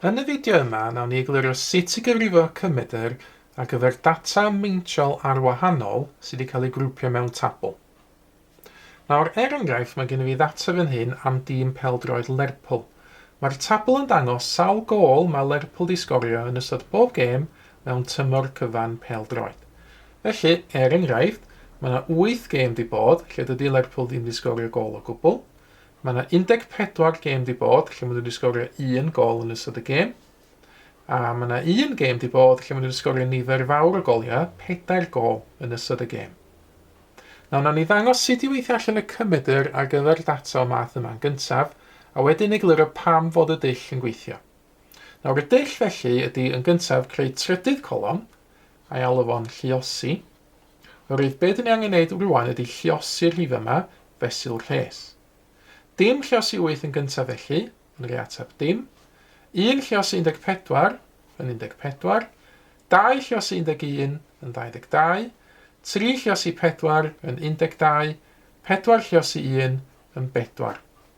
Yn y fideo yma, nawn ni eglurio sut i gyfrifo cymedr ar gyfer data meintiol arwahanol sydd wedi cael ei grwpio mewn tabl. Nawr, er enghraifft, mae gen i fi ddata fan hyn am dîm pêl-droed Lerpwl. Mae'r tabl yn dangos sawl gôl mae Lerpwl wedi sgorio yn ystod bob gêm mewn tymor cyfan pêl-droed. Felly, er enghraifft, mae 'na wyth gêm 'di bod lle dydi Lerpwl ddim 'di sgorio gôl o gwbl. Mae 'na 14 gêm 'di bod lle maen nhw 'di sgorio un gôl yn ystod y gêm. A mae 'na un gêm 'di bod lle maen nhw 'di sgorio nifer fawr o goliau, pedair gôl yn ystod y gêm. Nawr, nawn ni ddangos sut i weithio allan y cymedr ar gyfer data o math yma'n gyntaf, a wedyn egluro pam fod y dull yn gweithio. Nawr y dull felly ydy yn gyntaf creu trydydd colofn, a i alw fo'n lluosi. Oherwydd be dyn ni angen neud rwan ydy lliosi'r rhif yma fesul rhes. Dim lliosi 8 yn gyntaf felly, yn rhoi ateb dim. Un lliosi 14 yn 14. Dau lliosi 11 yn 22. Tri lliosi 4 yn 12. Pedwar lliosi 1 yn bedwar.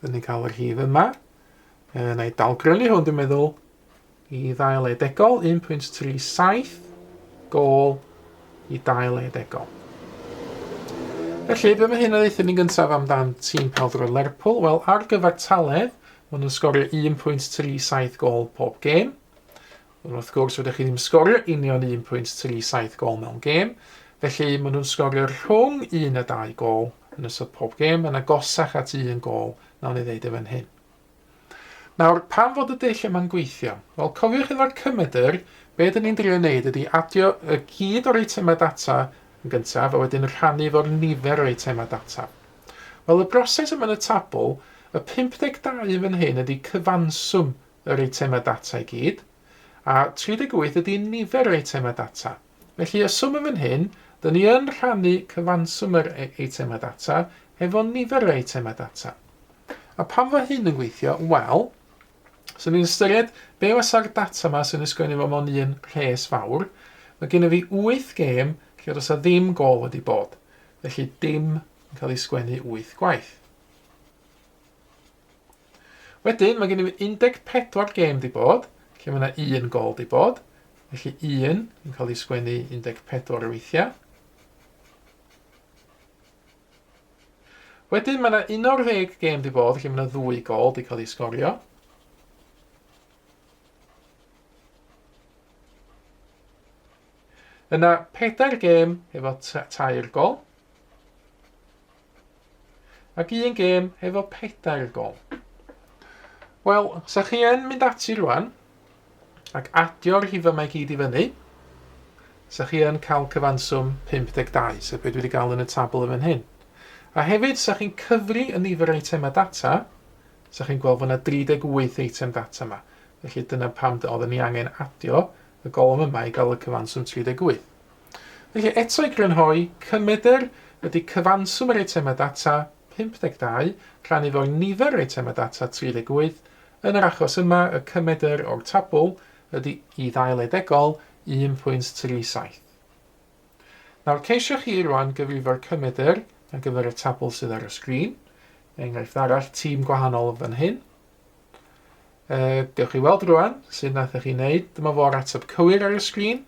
Dyn ni'n cael yr hif yma. E, na i dalgrynu hwn, dwi'n meddwl, i ddail edegol, 1.37 gol i dail edegol. Felly, be mae hyn yn ddeitha ni gyntaf amdan tîm peldroed Lerpwl? Wel, ar gyfer taledd, maen nhw'n sgorio 1.37 gol pob gêm. Ond wrth gwrs rydych chi ddim sgorio union 1.37 gol mewn gêm, felly maen nhw'n sgorio rhwng un a dau gol yn ystod pob gêm, mae'n agosach at un gol nawn ni ddeud e fan hyn. Nawr, pam fod y dull yma'n gweithio? Wel, cofiwch efo'r cymedr, be dyn ni'n drio wneud ydy adio y gyd o'r eitemau data yn gyntaf a wedyn rhannu fo'r nifer o eitemau data. Wel, y broses yma yn y tabl, y 52 yn fan hyn ydy cyfanswm yr eitemau data i gyd, a 38 ydy nifer yr eitemau data. Felly, y swm yn fan hyn, dyn ni yn rhannu cyfanswm yr e-, eitemau data hefo nifer yr eitemau data. A pam fo hyn yn gweithio? Wel, so ni'n ystyried be wasa'r data yma sy'n ysgrifennu fo mewn un rhes fawr. Mae gennym fi 8 gêm lle does a ddim gol wedi bod. Felly dim yn cael ei sgwennu 8 gwaith. Wedyn, mae gennym 14 gêm 'di bod, lle mae yna un gol 'di bod. Felly 1 yn cael ei sgwennu 14 o weithiau. Wedyn mae yna 11 gêm 'di bod, lle mae yna ddwy gol 'di cael ei sgorio. Yna pedair gêm efo tair gol. Ac un gêm efo pedair gol. Wel, sa chi yn mynd ati rwan, ac adio'r rhifau mae gyd i fyny, sa chi yn cael cyfanswm 52, sef beth dwi wedi cael yn y tabl yn fan hyn. A hefyd, sa chi'n cyfri y nifer eitemau data, sa chi'n gweld fod yna 38 eitem data yma. Felly dyna pam oedd ni angen adio y golwm yma i gael y cyfanswm 38. Felly, eto i grynhoi, cymmedr ydy cyfanswm yr eitemau data, 52, rhan efo'r nifer yr eitemau data, 38, yn yr achos yma, y cymmedr o'r tabl ydy i ddail edegol, 1.37. Nawr, ceisiwch chi rwan gyfrifo'r cymmedr ar gyfer y tabl sydd ar y sgrin, enghraifft arall, tîm gwahanol fan hyn. E, gewch chi weld rwan, sy'n nath chi wneud, dyma fo'r ateb cywir ar y sgrin,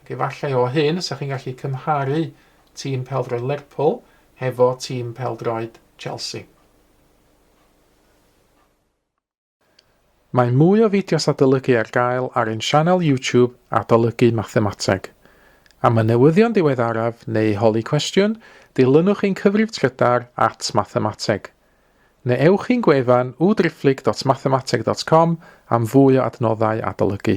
Ac efallai o hyn y 'sech chi'n gallu cymharu tîm pêl-droed Lerpwl hefo tîm pêl-droed Chelsea. Mae mwy o fideos adolygu ar gael ar ein sianel YouTube Adolygu Mathemateg. Am y newyddion diweddaraf neu holi cwestiwn, dilynwch ein cyfrif trydar at Mathemateg. Neu ewch i'n gwefan www.driphlyg.mathemateg.com am fwy o adnoddau adolygu.